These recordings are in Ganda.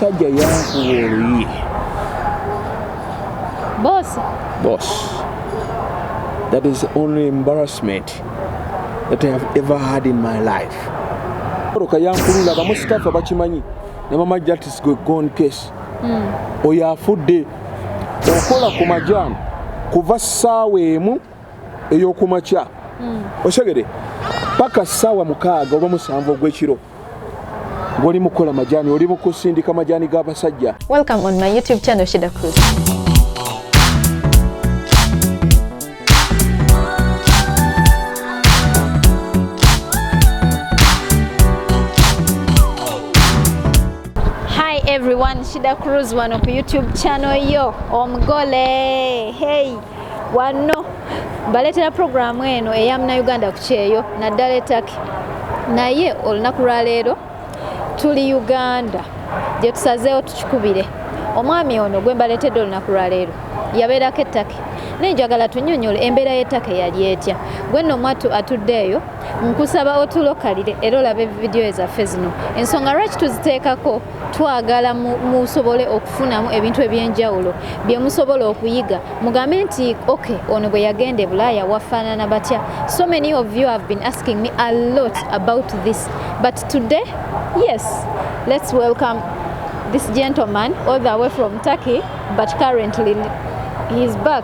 Omusajja yankuba oluyi. Boss. Boss. That is the only embarrassment that I have ever had in my life. Oroka yankulula abamu sitafu abakimanyi ne mama Jatis gwe gone case. Mm. Oyo afudde okola ku majaani kuva ssaawa emu ey'okumakya. Mm. Osegede paka ssaawa mukaaga oba musanvu ogw'ekiro. ngoli mukola majani oli mukusindika majani ga basajja welcome on my youtube channel shida cruz everyone shida cruz wano ku youtube channel yo omugole hey wanno baleetera pulogulaamu eno eya munauganda ku kyeyo naddala etaki naye olunaku lwaleero tuli uganda gye tusazeewo tukikubire omwami ono gwe mbaleetedde olunaku lwaleero yabeerako ettaki naye njagala tunyonyole embeera y'ettaka eyali etya gwenno omwattu atudde eyo nkusaba otulokalire era olabe vidiyo ezaffe zino ensonga lwaki tuziteekako twagala musobole okufunamu ebintu ebyenjawulo byemusobola okuyiga mugambe nti ok ono bwe yagenda e bulaaya wafaanana batya so many of you have been asking me a lot about this but today yes let's welcome this gentleman all the way from turkey but currently he is back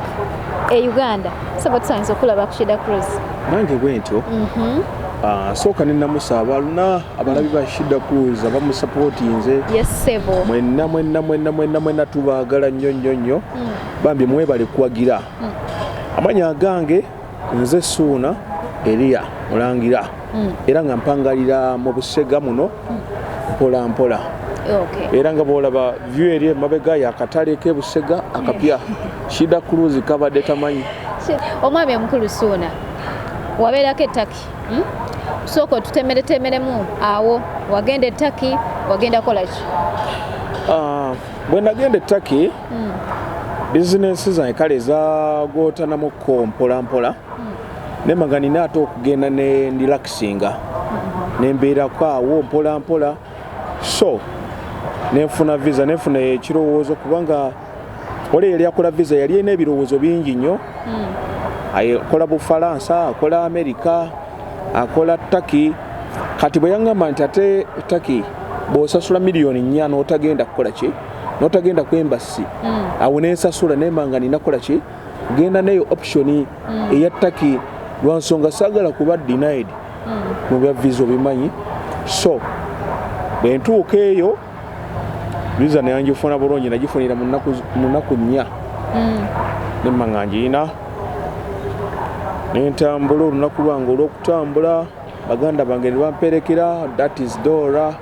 e uganda saba tusanyiza okulaba kushida cruise nange bwentyo mhm. ah, sooka nenamusa abaluna abalabi ba shida cruz abamusapotinze mwenna mwenna mwenna mwenna mwenna tubaagala nnyo nnyo nnyo mm. bambi mwebale kuwagira mm. amanya agange nze suuna eriya mulangira mm. era nga mpangalira mu busega muno mpola mpola era nga bwolaba vyu eri emabega yakatale kebusega akapya shida cruise kabadde tamanyi omwami omukulu suuna wabeerako ettaki hmm? sooka otutemeretemeremu awo wagenda ettaki wagenda kolaki ah, bwe nagenda ettaki hmm. bizinensi zange kale zagootanamukko mpolampola nemaga nina ate okugenda ne ndilakisinga nembeerako awo mpola mpola so nenfuna visa nenfuna ekirowoozo kubanga oli yali akola visa yali ena ebirowoozo bingi nnyo hmm. akola bufalansa akola amerika akola taki kati bwe yaŋŋamba nti ate taki bw'osasula miliyoni nnya n'otagenda kukola ki n'otagenda kwembasi hmm. awo nensasula nemanga ninakola ki genda neyo option mm. eya taki lwansonga sagala kuba denied mm. mu bya visa obimanyi so bwentuuka eyo visa neyangifuna bulungi nagifunira mu nnaku nnya mm. nemma nga ngiina nentambula olunaku lwange olwokutambula baganda bange nebamperekera that is dora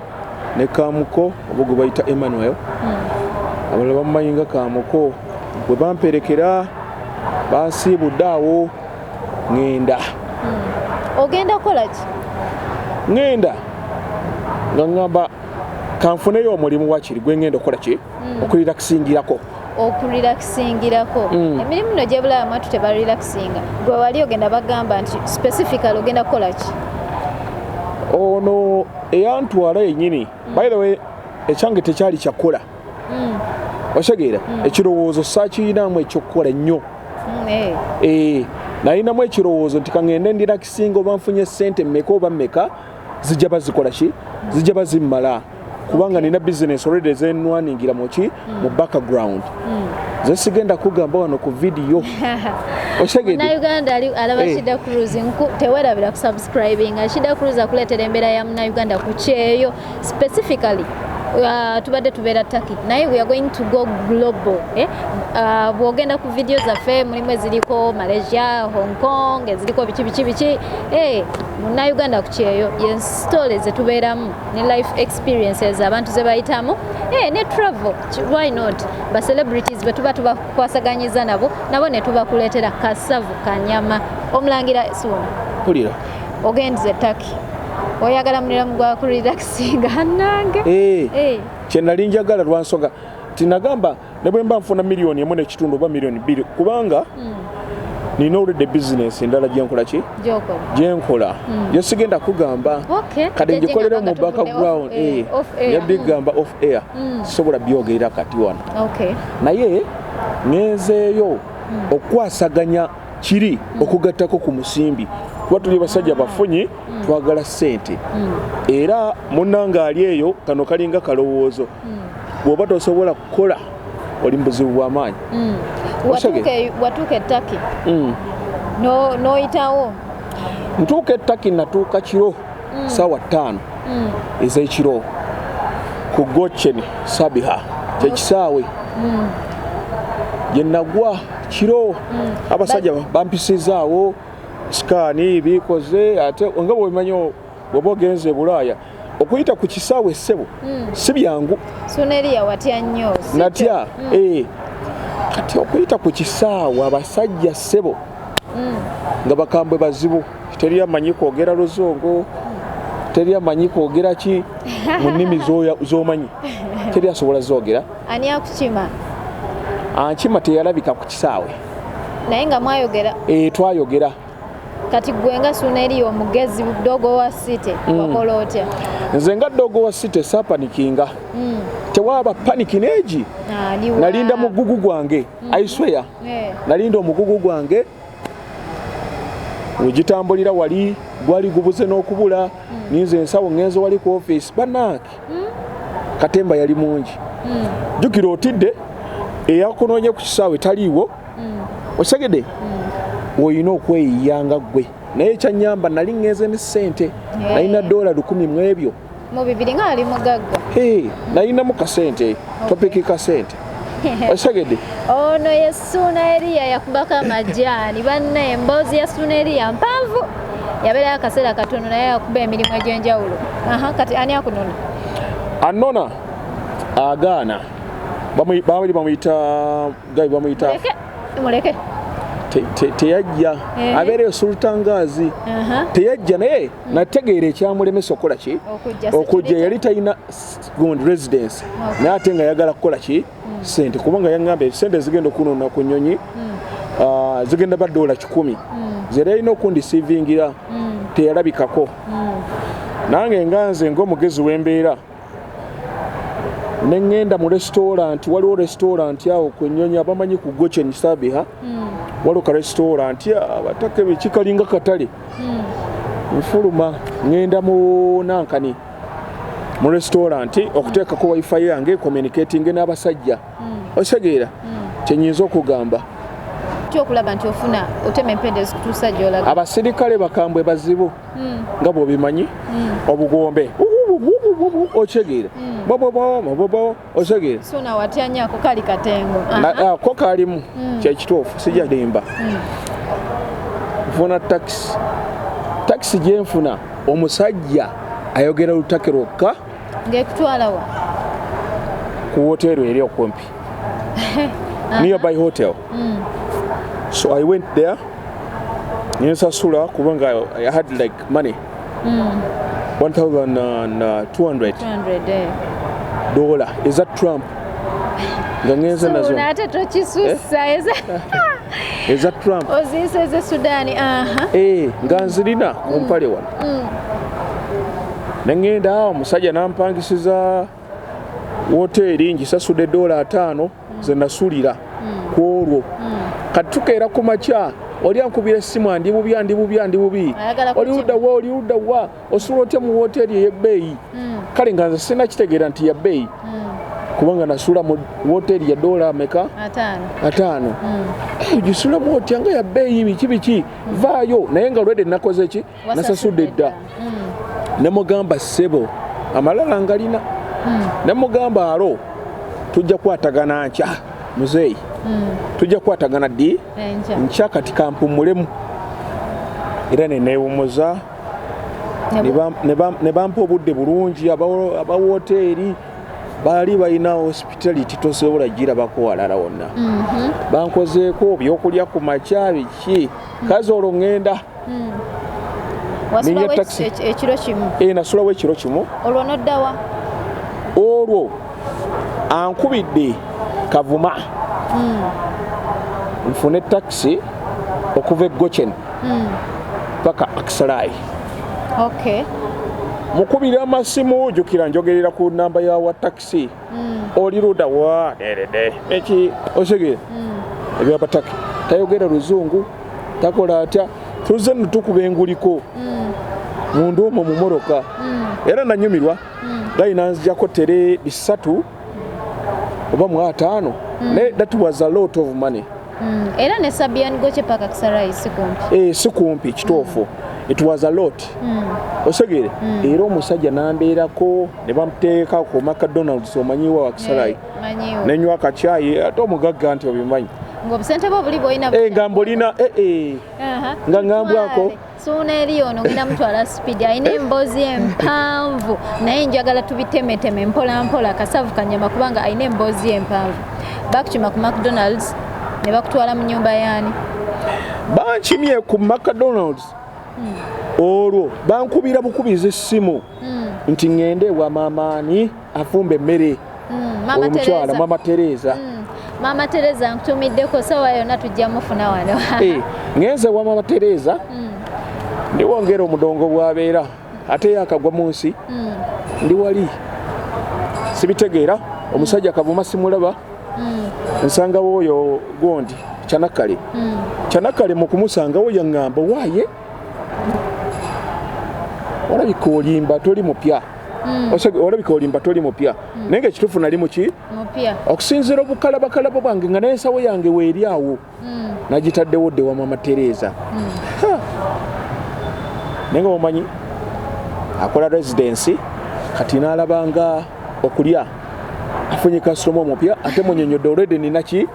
ne kamuko oba gwe bayita emmanuel hmm. abalala bamumanyi nga kamuko bwe bamperekera bansiibudde awo ŋenda hmm. ogenda kukola ki ŋenda nga ŋamba kanfuneyo omulimu wakiri gwe ŋenda okukola ki hmm. okulirakusingirako okurelaxingirako mm. emirimu no gyebulaba mwatu tebarelaxinga gwe wali ogenda bagamba nti specifically ogenda kukola ki ono eyantwala yenyini mm. by the way ekyange tekyali kyakola mm. osegeera mm. ekirowoozo sakiyinamu ekyokukola ennyo mm, eh. Eh, nayinamu ekirowoozo nti kangende ndirakisinga oba nfunye sente meka oba meka zijja bazikola ki zijja bazimmala kubanga nina business already ezenwaningira muki mu hmm. background hmm. nze sigenda kugamba wano ku vidiyo osegedenauganda alaba eh. shida cruz tewerabira kusubscribing shida cruz akuleetera embeera ya munauganda ku kyeyo specifically Uh, tubadde tubeera taki naye we are going to go global eh? uh, bwogenda ku vidiyo zaffe mulimu eziriko malaysia hong kong eziriko biki biki biki eh, munauganda ku kyeyo yensitole zetubeeramu ne life experiences abantu ze bayitamu eh, ne travel why not ba celebrities bwe tuba tubakwasaganyiza nabo nabo ne tubakuleetera kasavu kanyama omulangira suuna pulira ogendiza etaki oyagala muliramu gwa kurelaxinga nange eh, eh. kye nali njagala lwansonga tinagamba ne bwe mba nfuna miliyoni emu n'ekitundu oba miliyoni bbiri kubanga hmm. nina oludde bizinesi endala gyenkola ki gyenkola hmm. gye sigenda kugamba kati ngikolera mu background eh, eh, yabigamba off air hmm. sobola byogerera kati wano naye ngenzeeyo okukwasaganya kiri okugattako ku musimbi kuba tuli basajja bafunyi twagala ssente era munanga ali eyo kano kalinga kalowoozo bw'oba tosobola kukola oli mu buzibu bw'amaanyi mm. watuuka ettaki mm. n'oyitawo ntuuka ettaki natuuka kiro mm. sawa tano mm. ezekiro ku gocheni sabiha kyekisaawe mm. gyenagwa kiro mm. abasajja But... bampisizaawo sikaani bikoze ate nga bwemanyi bweba ogenze ebulaaya okuyita ku kisaawe essebo mm. si byangu natya mm. eh. kati okuyita ku kisaawe abasajja ssebo mm. nga bakambwe bazibu teri amanyi kwogera luzungu teri amanyi kwogera ki mu nnimi z'omanyi teri asobola zogera ani akukima ankima teyalabika ku kisaawe naye nga mwayogera e, twayogera kati gwe nga suna eri omugezi dogo wa city mm. wakola otya nze nga dogo wa city sapanikinga mm. tewaba paniki neegi nalinda mugugu gwange mm. aisweya yeah. nalinda omugugu gwange wegitambulira wali gwali gubuze n'okubula hmm. ninze ensawo ngenzo wali ku office banange hmm. katemba yali mungi hmm. jukira otidde eyakunonye ku kisaawe taliiwo osegede olina okweyiya nga ggwe naye ekyanyamba nali ngenze ne ssente nalina dola lukumi mu ebyo mu bibiri nga ali mugagga hey, nayinamu kasente eh. okay. topiki kasente osegede ono oh, ye suuna eriya yakubako amajaani banna emboozi ya suuna eriya mpanvu yabeerayo akaseera katono naye yakuba emirimu egy'enjawulo kati ani akunona anona agaana babali bamuyita gabi bamuyita muleke teyajja eh. abeereyo sultangazi teyajja naye nategeera ekyamulemesa okukola ki okujja yali talina gond residence naye ate nga yagala kukola ki hmm. sente kubanga yagamba esente ezigenda okunona ku nyonyi hmm. ah, zigenda badoola kikumi hmm. zera yalina okundisivingira teyalabikako nange nga nze ngaomugezi wembeera ne ŋŋenda mu resitooranti waliwo resitooranti awo ku ennyonyi abamanyi ku gochen sabiha hmm. waliwo ka resitooranti abataka ebyo kikalinga katale hmm. nfuluma ŋŋenda mu nankani mu resitooranti okuteekako wifi yange communicatinge n'abasajja hmm. osegeera kyenyinza okugamba okulaba nti ofuna otema empenda ezikutuusa gyolaga abasirikale bakambwe bazibu mm. nga bwobimanyi mm. obugombe okitegeera bobobobobobo otegeera ko kalimu kyekituufu sijalimba nfuna takisi takisi gyenfuna omusajja ayogera lutake lwokka ngekutwalawa ku woteero eri okumpi nearby hotel mm. so i went there nensasula kubanga i had like money mm. 1200 eh. dola eza trump nga ngenze nazo ate tokisussa eh? eza trump oziyisa eze sudani eh, nga nzirina kumpale mm. wano mm. nengenda awo omusajja nampangisiza woteeri ngisasude doola ataano mm. zenasulira mm. ku olwo mm. kati tukeera ku makya oli ankubira essimu andi bubi andi bubi andi bubi oli ludda wa oli ludda wa osula otya mu woteeri ey'ebbeeyi kale nga nze sina kitegeera nti ya bbeeyi kubanga nasula mu woteeri ya doola ameka ataano ogisulamu otya nga ya bbeeyi biki biki vaayo naye nga lwede nakoze ki nasasudde dda hmm. ne mugamba sebo amalala ngalina hmm. ne mugamba alo tujja kwatagana nkya muzeeyi hmm. tujja kwatagana ddi nkya kati kampumulemu era nenewumuza ne bampa obudde bulungi abawoteeri baali balina hospitality tosobola girabako walala wonna mhm. bankozeeko byokulya ku makya biki kazi olwo ŋŋenda nenya taxi ekiro kimu eh nasulawo ekiro kimu olwo noddawa olwo ankubidde kavuma hmm. nfune taxi okuva egochen hmm. paka aksalai okay mukubira amasimu jukira njogerera ku namba ya wa taxi mm. oli luda wa derede eki osege mm. ebya pataki tayogera luzungu takola atya tuze nutukuba enguliko mm. mundu omo mumoroka mm. era nanyumirwa mm. gayi nanzijako tere bisatu oba mu ataano mm. naye that was a lot of money mm. era ne sabian goche paka kisarayi sikumpi eh sikumpi kitofu mm. it was a lot mm. osegere mm. era omusajja nambeerako ne bamuteeka ku macdonalds omanyiwa wakisalayi eh, nenywa akakyayi ate omugagga nti obimanyi ngobusente bwo buli bwoyina eh, nga mbolina eh, eh. nga ngambwako suuna eri ono ngenda mutwala speed alina emboozi empanvu naye njagala tubitemeteme mpola mpola kasavu kanyama kubanga alina emboozi empanvu bakukima ku macdonalds ne bakutwala mu nyumba yaani bankimye ku macdonalds hmm. olwo bankubira bukubiza essimu mm. nti ŋŋende ewa maamaani afumba emmere mm, omukyala maama tereeza mm. maama tereeza nkutumiddeko sawa yonna tujja mufuna wano eh, ŋenze ewa maama tereeza ndiwongera omudongo bwabeera ate yakagwa mu nsi ndi wali sibitegeera omusajja kavuma simulaba nsangawo oyo gondi kyanakale kyanakale mukumusangawo yaŋŋamba waaye olabika olimba toli mupya hmm. olabika olimba toli mupya hmm. naye nga ekituufu nali muki okusinziira obukalabakalabo bwange nga nensawo yange weeri awo hmm. nagitaddewo dde wamama tereeza naye nga omanyi akola residensi kati nalabanga okulya afunye kasitoma omupya ate munyonyodde olwede ninaki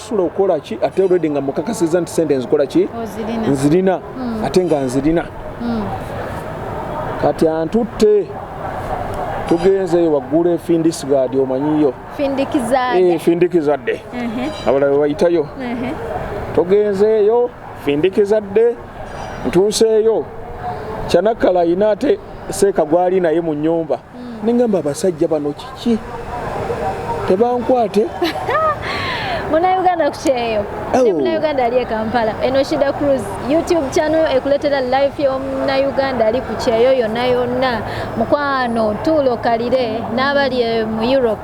sula okola ki ate already nga mukakasiza nti sente nzikola ki nzirina hmm. ate nga nzirina hmm. kati antutte tugenzeyo waggula efindisgadi omanyiyo findikizadde eh, uh-huh. abalala webayitayo uh-huh. tugenzeeyo findikizadde ntuuseeyo kyanakala ayina ate seeka gwali naye mu nyumba mm. nengamba abasajja bano kiki tebankwate munauganda kukyeyo ne munauganda ali ekampala eno shida cruz youtube channel ekuletera life yomunauganda ali kukyeyo yona yonna mukwano tuulokalire n'abali mu europe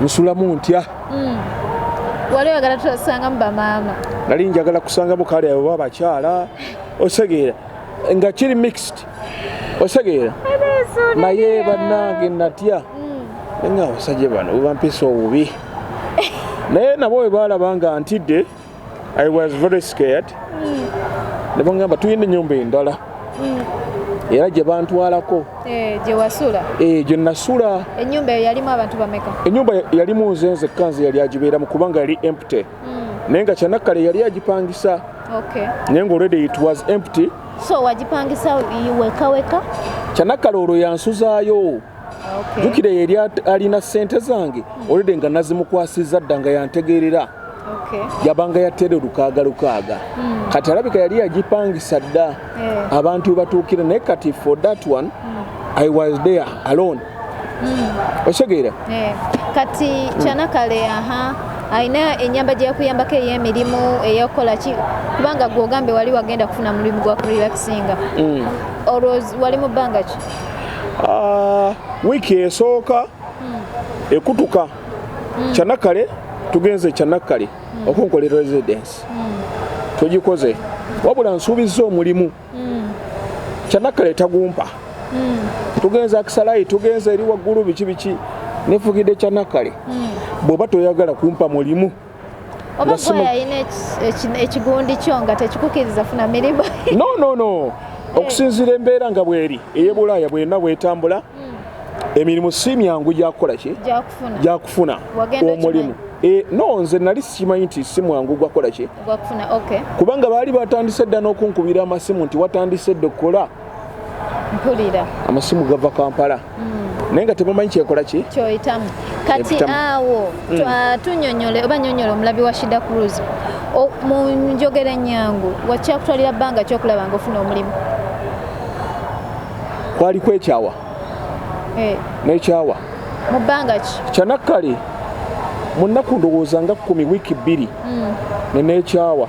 nsulamu ntya mm. wali oyagala tusangamu bamaama nali njagala kusangamu kale abo ba bakyala osegeera nga kiri mixed osegeera naye bannange natya mm. nga abasajja bano webampisa obubi naye nabo webaalaba nga ntidde I was very scared mm. nebangamba tuyina enyumba endala mm. era gye bantwalako eh, gye wasula eh, gye nasula enyumba eyo yalimu abantu bameka enyumba yalimu nze nze kanze yali agibeeramu kubanga yali empty mm. naye nga kyanakkale yali agipangisa naye nga already it was empty so wagipangisa wekaweka kyanakkale olwo yansuzaayo jukira okay. yeri alina sente zange mm. olede nga nazimukwasiza dda nga yantegeerera okay. yabanga yatere lukaaga lukaaga mm. kati alabika yali yagipangisa dda yeah. abantu webatuukira naye kati for that one mm. i was there alone mm. osegeera yeah. kati hmm. kyanakale mm. aha alina enyamba gyeyakuyambako eyemirimu eyakukola ki kubanga gwe ogambe wali wagenda kufuna mulimu gwa kurelaxinga mm. olwo wali mu bbanga ki ah, wiiki esooka hmm. ekutuka hmm. kyanakale tugenze kyanakale hmm. okunkola residence tugikoze wabula nsuubizza omulimu kyanakale tagumpa tugenze akisalayi tugenze eri waggulu biki biki nefugidde kyanakale bw'oba toyagala kumpa mulimu oba gwe yalina ekigundi kyo nga tekikukiriza funa mirimu no no no eh. okusinziira embeera nga bweri eyebulaaya bwena bwetambula hmm. emirimu si myangu gyakukola ki gyakufuna omulimu E, no nze nali sikimanyi nti si mwangu gwakola ki kubanga baali batandise dda n'okunkubira amasimu nti watandise dda okukola mpulira amasimu gava kampala hmm. naye nga temumanyi kyekola ki kyoyitamu kati awo hmm. tunyonyole oba nyonyola omulabi wa shida cruz mu njogera enyangu wakyakutwalira bbanga kyokulaba nga ofuna omulimu kwali kwekyawa eh. nekyawa mu bbanga ki kyanakkale mu nnaku ndowooza nga kkumi wiiki bbiri hmm. nenekyawa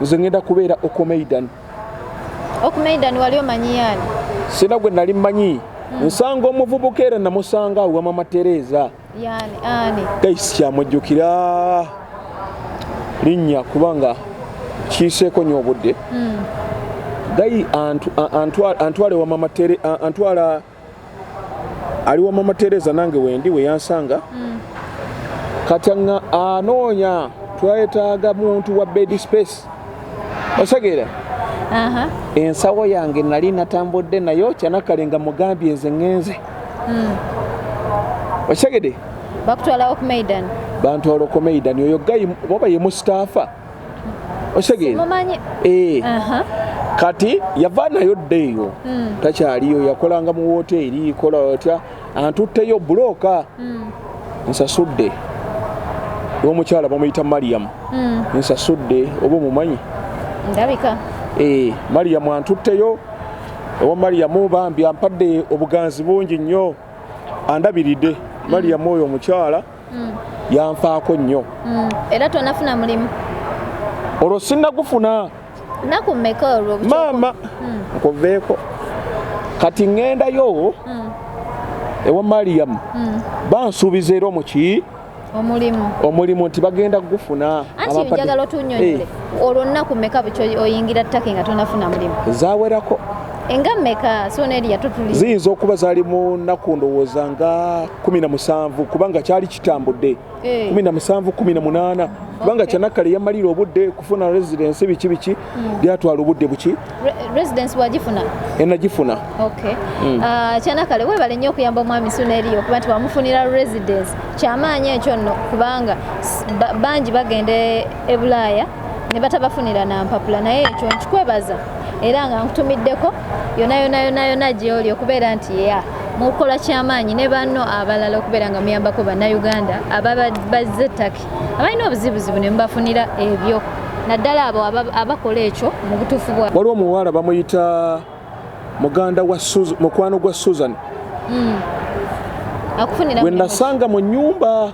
nze ngenda kubeera okomeidan okomeidan wali omanyi yani sina gwe nali mmanyi hmm. nsanga omuvubuka era namusanga awa mama tereeza gaisi kyamujjukira linnya kubanga kiiseeko nyo obudde hmm. gayi antwala ali wa mama tereza nange wendi weyansanga mm. kati nga anoonya twetaaga muntu wa bed space osegeera ensawo yange nali natambudde nayo kyanakale nga mugambye nze ngenze mm. okitegede bantwala okumeidan oyo gayi oba yemusitaafa osegeera eh. kati yava nayo dda eyo hmm. takyaliyo yakolanga mu woteeri kola otya antutteyo bulooka hmm. nsasudde omukyala bamuyita mariyamu hmm. nsasudde oba omumanyi ndabika eh, mariyamu antutteyo owa mariyamu bambi ampadde obuganzi bungi nnyo andabiridde mariyamu oyo omukyala mm. yanfaako nnyo mm. era tonafuna mulimu olwo sinagufuna naku mmeka olwo maama mm. nkuveeko kati ŋŋendayo mm. ewa mariyamu mm. bansuubiza era omuki omulimu omulimu nti bagenda kugufuna anti njagala otunyonyole eh. olwo nnaku mmeka bukyo oyingira ttake nga tonafuna mulimu zawerako enga meka sona eri yatutuli ziyinza okuba zali mu nnaku ndowooza nga kumi na musanvu kubanga kyali kitambudde eh. kumi na musanvu kumi na munaana kubanga kyanakkale yamalira obudde kufuna residensi biki biki hmm. byatwala obudde buki residensi wagifuna enagifuna hmm. ah, kyanakkale webale nnyo okuyamba omwami sona eri okuba nti wamufunira residensi kyamaanyi ekyo nno kubanga bangi bagenda e bulaaya ne batabafunira na mpapula naye ekyo nkikwebaza era nga nkutumiddeko yona yona yona yona gyoli okubeera nti ya mukukola kyamaanyi ne banno abalala okubeera nga muyambako bannayuganda ababazze ettaki abalina obuzibuzibu ne mubafunira ebyo naddala abo abakola ekyo mu butuufu bwa waliwo omuwala bamuyita muganda wa mukwano gwa susan mm. akufunira wenasanga mu nyumba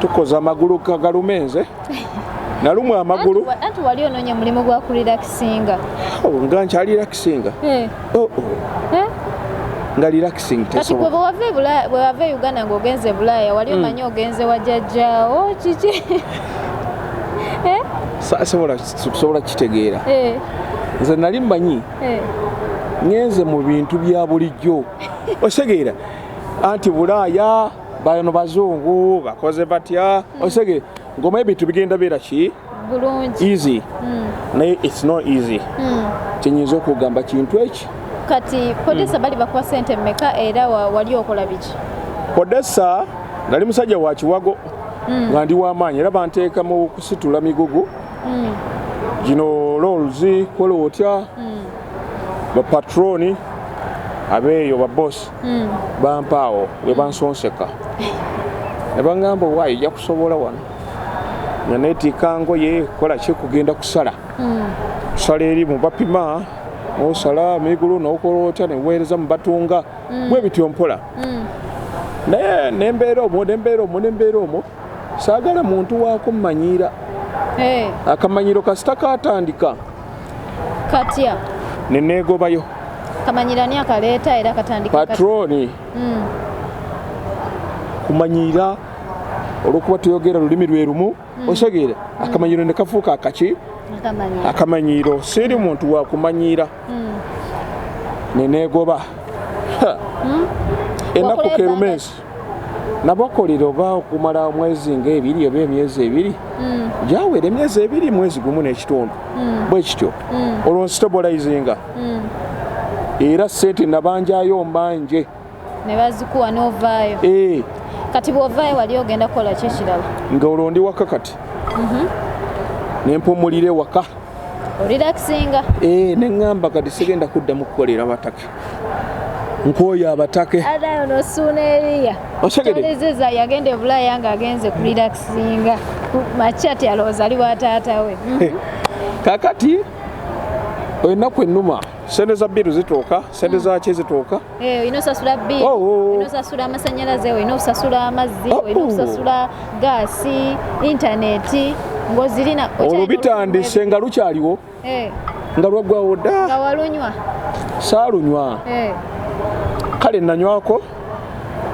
tukoza amagulu kagalume nze nalumwa amagulu anti wali ononya mulimu gwa kurelaxinga oh, nga nkyali relaxinga eh. oh, oh. Eh? nga relaxing kati gwe bwewava e uganda ngaogenze e bulaaya wali hmm. omanyi ogenze wajajjawo kiki eh? sobola kitegeera nze nali mmanyi ngenze mu bintu bya bulijjo osegeera anti bulaaya bano bazungu bakoze batya hmm. osege ngoma ebintu bigenda beera ki easy hmm. naye its no easy hmm. kyenyinza okugamba kintu eki kati podesa bali bakuwa sente meka era wali okola biki podesa nali musajja wa kiwago nga ndi wamaanyi era banteeka mu kusitula migugu gino lolzi kola otya bapatroni abeeyo babosi hmm. bampaawo ne bansonseka ne bangamba owaayo ojja kusobola wano nga neetiika ngoye kola ki kugenda kusala hmm. kusala eri mu bapima osala migulu nokola otya neweereza mu batunga hmm. bwe bityo mpola naye nembeera omwo nembeera omwo nembeera omwo saagala muntu wakummanyiira eh. akamanyiro kasita katandika katya ne neegobayo kamanyirani akaleeta era katandika patroni mm. kumanyira olwokuba tuyogera lulimi lwe lumu mm. osegeera mm. akamanyiro ne kafuuka akaki akamanyiiro siri muntu wakumanyiira mm. neneegoba hmm? enaku kerumensi nabakolera oba okumala omwezi ngaebiri oba emyezi ebiri mm. gyawera emyezi ebiri mwezi gumu n'ekitundu mm. bwe kityo mm. olwo nsitobolayizinga era sente nabanjayo mbanje nebazikuwa novaayo eh. kati bwovaayo wali ogenda kukola ki ekirala nga olwo ndi waka kati mhm. nempumulire waka orelaxinga eh, neŋamba kati sigenda kuddamu kukolera bataka nkwoyo abatake otegedeza yagenda ebulaya nga agenze ku relaxinga makyati alowooza ali wa taata we mhm. kakati oyo ennaku ennuma sente za biiru zituuka sente mm. zaki zituuka eh, olina osasula biiru oh, oh, oh. olina osasula amasanyalaze olina okusasula amazzi olina okusasula gaasi intaneti ng'ozirina olwo bitandise nga lukyaliwo eh. nga lwaggwawo dda nga walunywa saalunywa eh. kale nanywako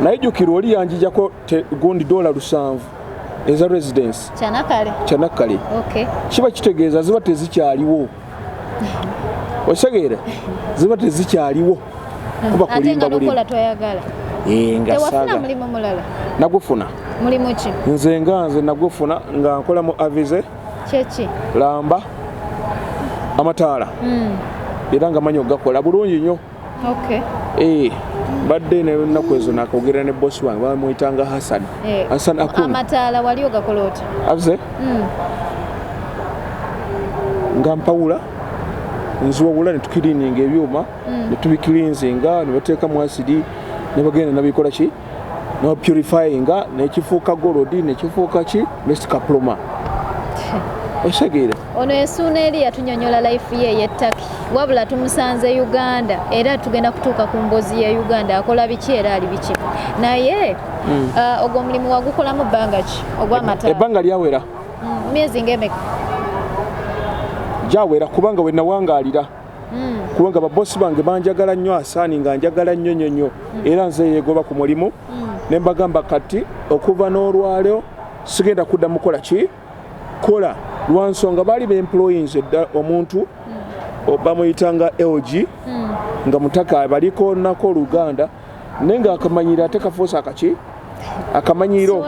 naye jukira oli yanjijako gundi dola lusanvu eza residence kyanakkale kiba kitegeeza ziba tezikyaliwo osegeera ziba tezikyaliwo kuba kulimba bulimu eh, nga saaga nagufuna nze nga nze nagufuna nga nkola mu avize kyeki lamba amataala mm. era nga manyi okugakola bulungi nnyo okay. e, badde nenaku ezo nakogera ne bosi wange bamuyitanga hasan e, eh, hasan akun amataala wali ogakola oti aze mm. nga mpawula nziwawula netukirininga ebyuma mm. netubikilinzinga nebateeka mu asidi nebagenda nabikola ki no purifying nekifuuka gold nekifuuka ki mist kaploma osegeera ono ensuuna eri yatunyonyola life ye yettaki wabula tumusanze uganda era tugenda kutuuka ku mbozi ye uganda akola biki era ali biki naye mm. uh, ogwo omulimu wagukolamu bbanga ki ogwamata ebbanga lyawera mm, myezi ngaemeka gyawera kubanga wenawangaalira hmm. kubanga babosi bange banjagala nnyo asaani nga njagala nnyo nyo nyo hmm. era nze yegoba ku mulimu hmm. ne mbagamba kati okuva n'olwaleo sigenda kudda mukola ki kola lwansonga baali beemployins edda omuntu bamuyitanga lg nga mutaka baliko nako oluganda naye nga akamanyira ate kafuusa akaki akamanyiro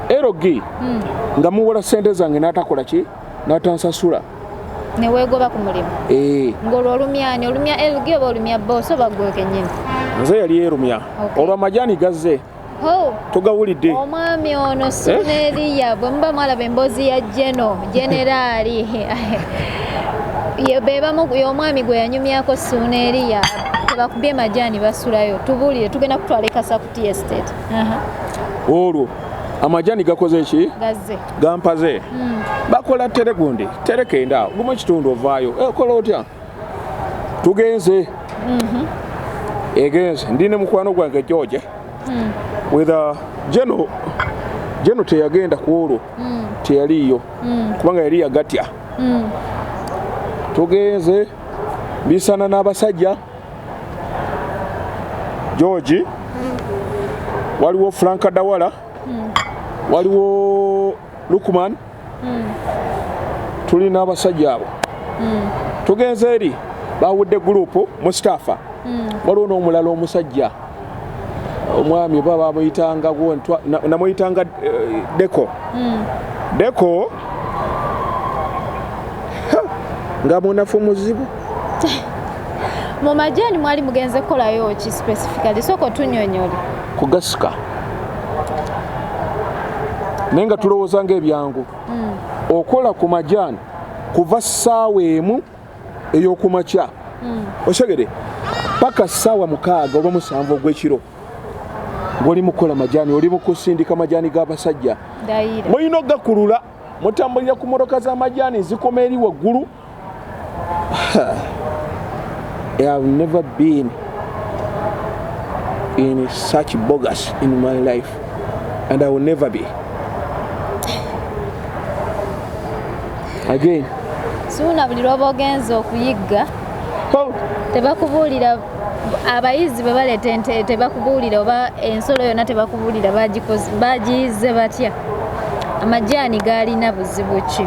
erog nga muwola sente zange n'atakola ki natansasula newegoba ku mulimu eh. ngolwo olumyani olumya lg oba olumya bosi oba gwe kenyini nze yali erumya olwo amajani gazze togawulidde omwami ono eh? sineeriya bwe muba mwalaba emboozi ya jeno generaali bebamu y'omwami gwe yanyumyako suneeriya tebakubye majaani basulayo tubuulire tugenda kutwala ekasa ku tstate olwo amajaani gakoze ki gazze gampaze mm. bakola tere gundi tere kenda gumu kitundu ovaayo eh, kola otya tugenze mm -hmm. egenze ndi ne mukwano gwange george mm. with a geno geno teyagenda ku olwo mm. teyaliiyo mm. kubanga yali yagatya mm. tugenze bisana n'abasajja george mm. waliwo franka dawala hmm. waliwo lukman hmm. tuli n'abasajja abo hmm. tugenze eri bawudde gurupu mustafa waliwo n'omulala omusajja omwami oba bamuyitanga namuyitanga eh, deko deko nga munafu muzibu mu majaani mwali mugenze kukolayo ki specifically sooka otunyonyole kugasika naye nga tulowooza ngaebyangu mm. okola ku majaani kuva ssaawa emu eyokumakya mm. osegede paka ssaawa mukaaga oba musanvu ogwekiro ngoli mukukola majaani oli mukusindika majaani g'abasajja mulina okugakulula mutambulira ku mmotoka z'amajaani zikoma eri waggulu I have never been in such bogus in my life and I will never be. Again. Suuna buli lwoba ogenze okuyigga tebakubuulira abayizi bwe baleeta ente tebakubuulira oba ensolo yonna tebakubuulira bagiyizze batya amajaani gaalina buzibu ki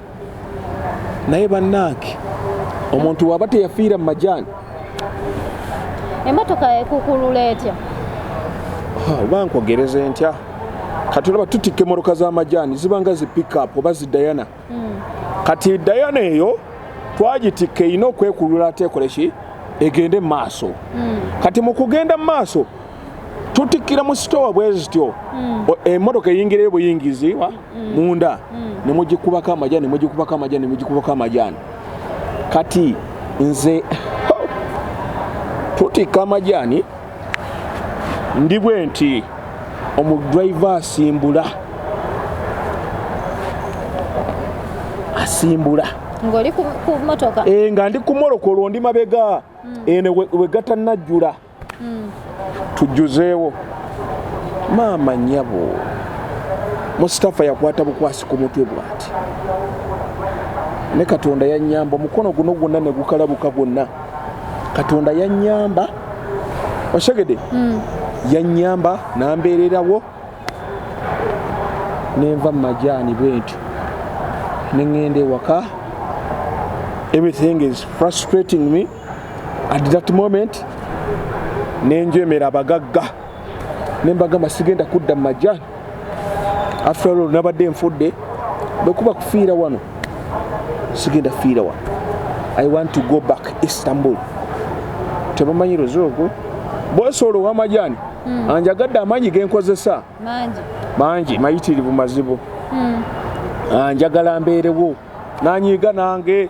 naye banange omuntu waba teyafiira mu majaani emotoka ekukulula etya oba nkwogereza entya kati olaba tutikka emoroka z'amajaani zibanga zi pickup oba zi dayana hmm. kati dayana eyo twagitikka erina okwekulula ateekoleki egende mu maaso hmm. kati mu kugenda mu maaso tutikkira mu sitowa bwe zityo hmm. emmotoka eyingirayo buyingiziwa hmm. munda hmm. ne mugikubako amajaani ne mugikubako amajaani ne mugikubako amajaani kati nze tutikka amajaani ndi bwe nti omudriva asimbula asimbula nga ndi ku molokolo ndi mabega eno wegatanajjula hmm. tujjuzeewo maama nyabo musitafa yakwata bukwasi ku mutwe bwati ne katonda yanyamba omukono guno gwonna ne gukalabuka gwonna katonda yanyamba osegede hmm. yanyamba nambeererawo nenva mu majaani bwentyo neŋŋenda ewaka everything is frustrating me at that moment nenjemera abagagga nembagamba sigenda kudda mu majani after all nabadde nfudde bwekuba kufiira wano sigenda fiira wano i want to go back istanbul tebamanyi luzi olwo bwosoolo wamajani hmm. anjagadde amaanyi genkozesa mangi mayitirivu mazibu hmm. anjagala mbeerewo nanyiiga nange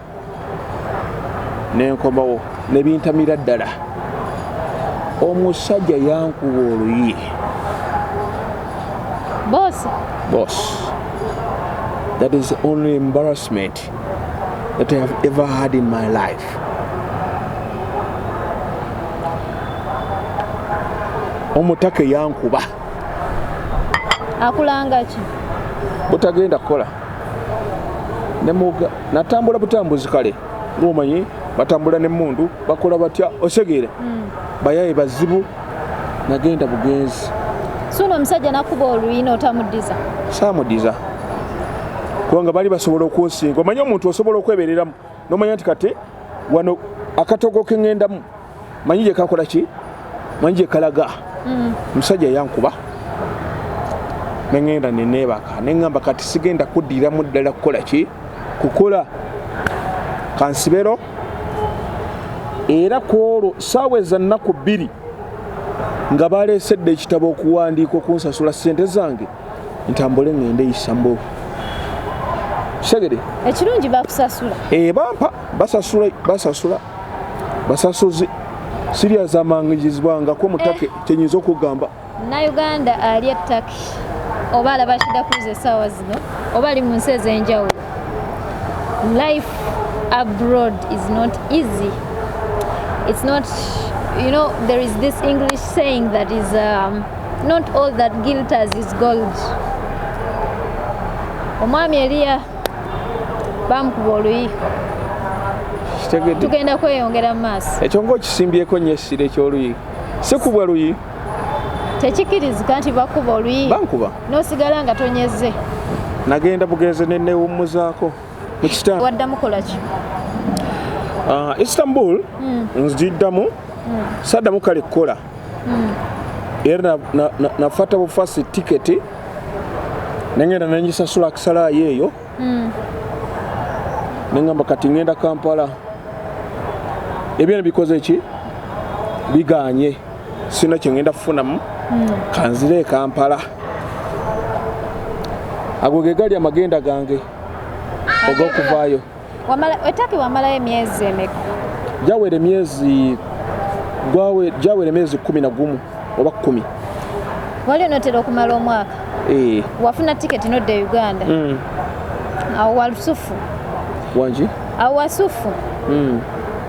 nenkomawo nebintamira ddala omusajja yankuba oluyi bos bos that is the only embarrassment that i have ever had in my life omutaka eyankuba akulangaki butagenda kukola nemuga natambula butambuzi kale ngomanyi batambula nemundu bakola batya osegeera mm. bayaye bazibu nagenda bugenzi suno omusajja nakuba oluyina otamudiza samudiza kubanga bali basobola okwosinga omanya omuntu osobola okwebereramu nomanya nti kati wano akatogo kengendamu manyi gye kakola ki manyi gye kalaga mm. omusajja yankuba ne ŋŋenda ne neebaka ne ŋŋamba kati sigenda kuddiramu ddala kukola ki kukola kansibero era ku olwo saawa eza nnaku bbiri nga baleesedde ekitabo okuwandiika okunsasula ssente zange ntambule ngende isambo segede ekirungi bakusasula eh bampa basasula basasula basasuzi sirya zamangizibwanga ko mutake eh. kyenyizo kugamba na uganda ali attaki oba alaba shida kuze sawa zino oba ali mu nsi ezenjawulo life abroad is not easy it's not you know there is this english saying that is um, not all that gilters is gold omwami eliya bamukuba oluyi tugenda kweyongera mu maaso ekyo ngaokisimbyeko nyo essira ekyoluyi sikubwa luyi tekikirizika nti bakuba oluyi bankuba nosigala nga tonyeze nagenda bugenze nenewummuzaako mu kitanda waddamu kolaki ah, istanbul hmm. nziddamu hmm. saddamu kale kukola hmm. era nafata bufasi tiketi nengenda nengisasula akisalayo eyo nengamba kati ngenda kampala ebyona bikoze ki biganye sirina kyengenda kufunamu hmm. kanzire ekampala ago ge gali amagenda gange ogokuvaayo etaki wamalayo emyezi emeka jawera emyezi jawera emyezi kumi na gumu oba kumi wali onotera okumala omwaka eh. wafuna tiketi nodda e uganda hmm. awo walusufu wangi awo wasufu hmm.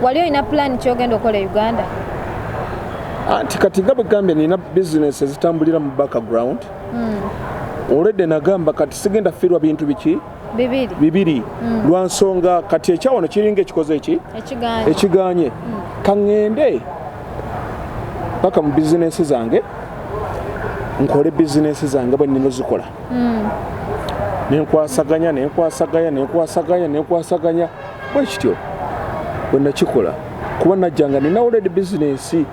wali olina pulaani kyogenda okola e uganda anti ah, kati nga bwegambye nina bizinesi ezitambulira mu background hmm. olwedde nagamba kati sigenda firwa bintu biki bibiri, bibiri. Hmm. lwa nsonga kati ekyawano kiringa ekikoze eki ekiganye kaŋŋende paka mu bizinesi zange nkole bizinesi zange bwe nina ozikola hmm. nenkwasaganya nenkwasaganya nenkwasaganya nenkwasaganya bwekityo bwenakikola kuba najjanga nina oledi bizinesi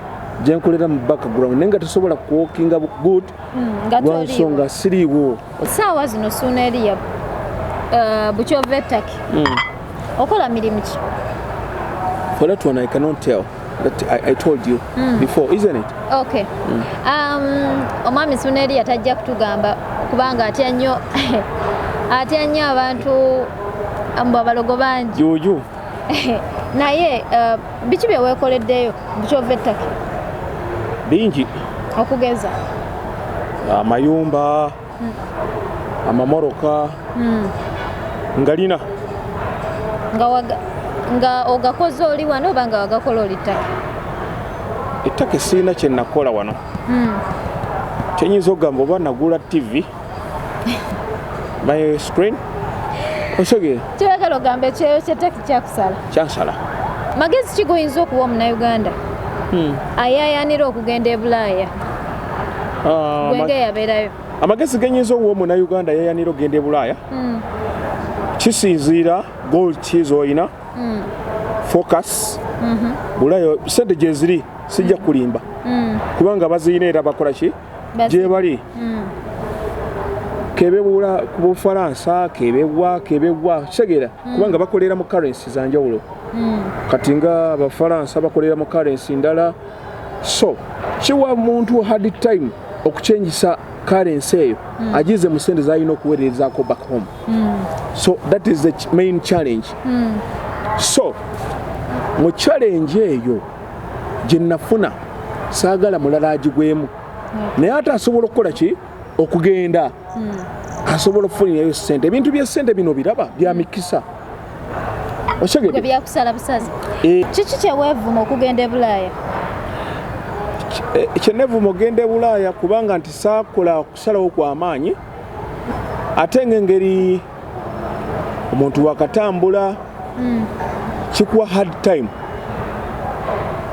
gyenkolera mu background naye nga tesobola kuwokinga good hmm, lwansonga siriiwo saawa zino suuna eriya uh, bukyova ettaki hmm. okola mirimu ki kola twana i cannot tell that I, I told you mm. before, isn't it? Okay. Mm. Um, omwami Suneri yatajja kutugamba kubanga atya nnyo atya nnyo abantu mbu abalogo bangi juju naye uh, biki bye weekoleddeyo bukyova ettaka bingi okugeza amayumba uh, amamoroka hmm. ngalina nga ogakoze oli wano oba nga wagakola oli ttaka ettaka esiina kyenakola wano hmm. kyenyinza okugamba oba nagula tv my screen osogere kyoyagala ogamba ekyeyo kyettaka kyakusala kyansala magezi ki goyinza okuwa omunauganda hmm. ayayanira okugenda e bulaaya ah, gwenge yabeerayo amagezi genyinza owa omuna uganda yayanira okugenda ebulaaya hmm. kisinziira gold kiz olina hmm. focus mhm. bulayo sente gyeziri sijja hmm. kulimba kubanga baziyina era bakola ki gyebali kebewula ku bufalansa kebewwa kebewwa kitegera kubanga bakolera mu currency zanjawulo kati nga abafalansa bakolera mu currency ndala so kiwa muntu hard time okukyengisa currency eyo mm. agize mu sente zalina okuwererezaako back home mm. so that is the main challenge mm. so mu challenge eyo gye nafuna saagala mulala agigwemu naye ate asobola okukola ki okugenda hmm. asobola okufunirayo sente ebintu byesente bino biraba byamikisa byakusala busazi eh. kiki kyewevuma okugenda ebulaaya eh, kyenevuma okugenda ebulaaya kubanga nti saakola okusalawo kwamaanyi ate nga engeri omuntu wakatambula mm. kikuwa hard time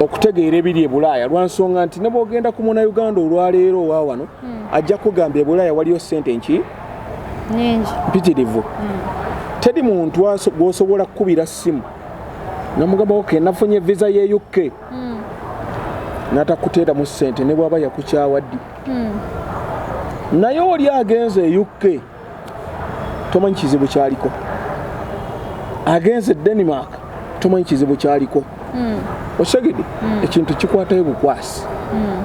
okutegeera ebiri ebulaaya lwansonga nti nebwogenda ku muna uganda olwaleero owa wano mm. ajja kugamba ebulaaya waliyo sente nki mpitirivu mm. teri muntu gwosobola kukubira simu namugamba oke nafunye visa ye uk mm. natakuteeramu sente nebwaba yakukyawaddi mm. naye oli agenze e uk tomanyi kizibu kyaliko agenze e denmark tomanyi kizibu kyaliko hmm. osegede hmm. ekintu kikwatayo bukwasi hmm.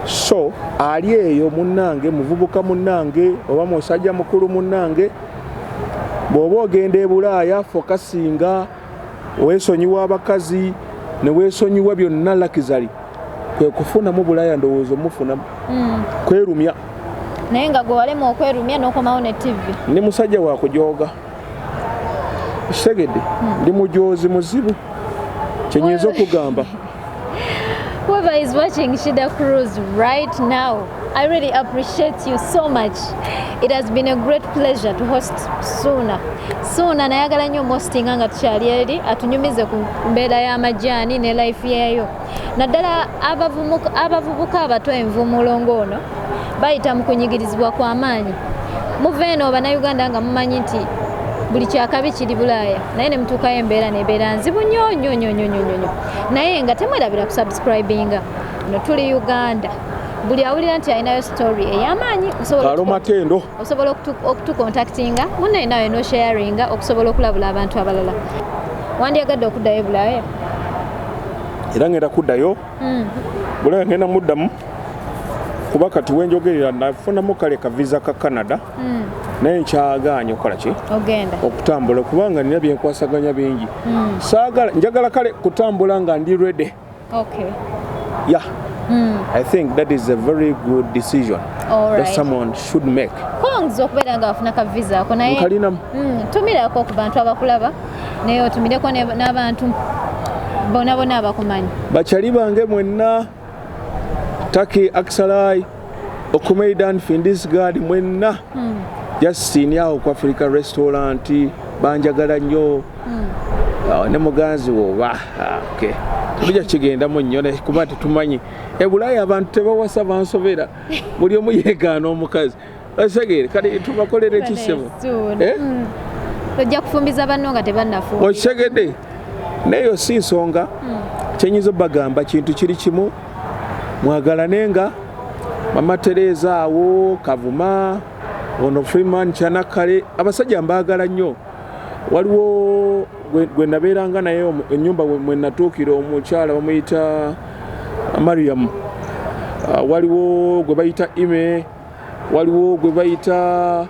so ali eyo munange muvubuka munange oba musajja mukulu munange bwoba ogenda ebulaaya fokasinga wesonyiwa abakazi newesonyiwa byonna lakizali kwekufunamu bulaya ndowooza omufunamu hmm. kwerumya naye nga gwe walema okwerumya nokomawo ne tv ndi musajja wakujooga kitegedde hmm. ndi mujoozi muzibu kyenyinza okugamba Whoever is watching Shida Cruz right now, I really appreciate you so much. It has been a great pleasure to host Suna. Suna nayagala nyo mosting nga tukyali eri atunyumize ku mbeera y'amajaani ne life yeyo. Naddala abavubuka abato envumulo ng'ono bayita mu kunyigirizibwa kwa maanyi. Muva eno bannayuganda nga mumanyi nti buli kyakabi kiri bulaaya naye ne mutuukayo embeera nebeera nzibu nyo nyo nyo nyo nyo nyo. naye nga temwerabira kusubscribinga no tuli uganda buli awulira nti alinayo story eyamaanyi alomatendo osobola okutukontaktinga munaye nawe nosharinga okusobola okulabula abantu abalala wandyagadde okuddayo ebulaaya era ngenda kuddayo hmm. bulaaya ngenda muddamu kuba kati wenjogerera nafunamu kale ka visa ka canada mm. naye nkyagaanye okukola ki okutambula kubanga nina byenkwasaganya bingi mm. saagala njagala kale kutambula nga ndi rede okay. yeah. mm. i think that is a very good decision All right. that someone should make kongs okubeera nga wafuna ka visa ako naye nkalinamu mm. tumirako ku bantu abakulaba naye otumireko n'abantu bonabona abakumanyi bakyali bange mwenna Taki Aksalai, Okumeidan, Findisgard, mwenna hmm. Justin yawo ku Africa Restaurant banjagala nnyo hmm. ne muganzi wo oba ah, okay. tujja kigendamu nnyo kuba tetumanyi ebulaaya abantu tebawasa bansobera buli omu yegaana omukazi Osegere kati tubakolere ki ssebo? Eh? Hmm. Ojja kufumbiza banno nga tebannafumba. Osegede naye si nsonga hmm. kyenyiza bagamba kintu kiri kimu mwagalane nga mama Tereza awo Kavuma ono Freeman Kyanakale abasajja mbaagala nnyo waliwo gwe nabeeranga naye ennyumba mwe natuukira omukyala bamuyita Mariam ah, waliwo gwe bayita ime waliwo gwe bayita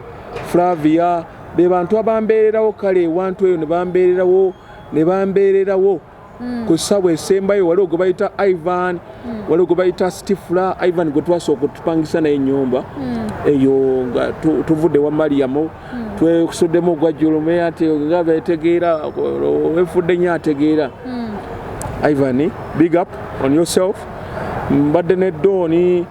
flavia be bantu abambeererawo kale ewantu eyo nebambeererawo nebambeererawo hmm. ku ssabwa esembayo waliwo gwe bayita ivan hmm. waliwo gwe bayita stifla ivan gwe twasooka otupangisa naye enyumba hmm. eyo nga tuvudde wa mariyamu twekusuddemu ogwa julume ati nga betegeera wefudde nyo ategeera ivan big up on yourself mbadde ne dooni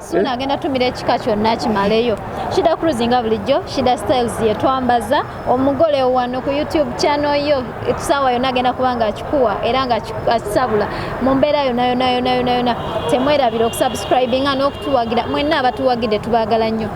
Suna eh? agenda tumira ekika kyonna kimaleyo. Shida Cruise nga bulijjo, Shida Styles ye twambaza omugole wano ku YouTube channel yo. Etusawa yona agenda kubanga akikuwa era nga akisabula. Mu mbeera yona yona yona yona yona temwerabira okusubscribinga n'okutuwagira. Mwenna abatuwagide tubagala nnyo.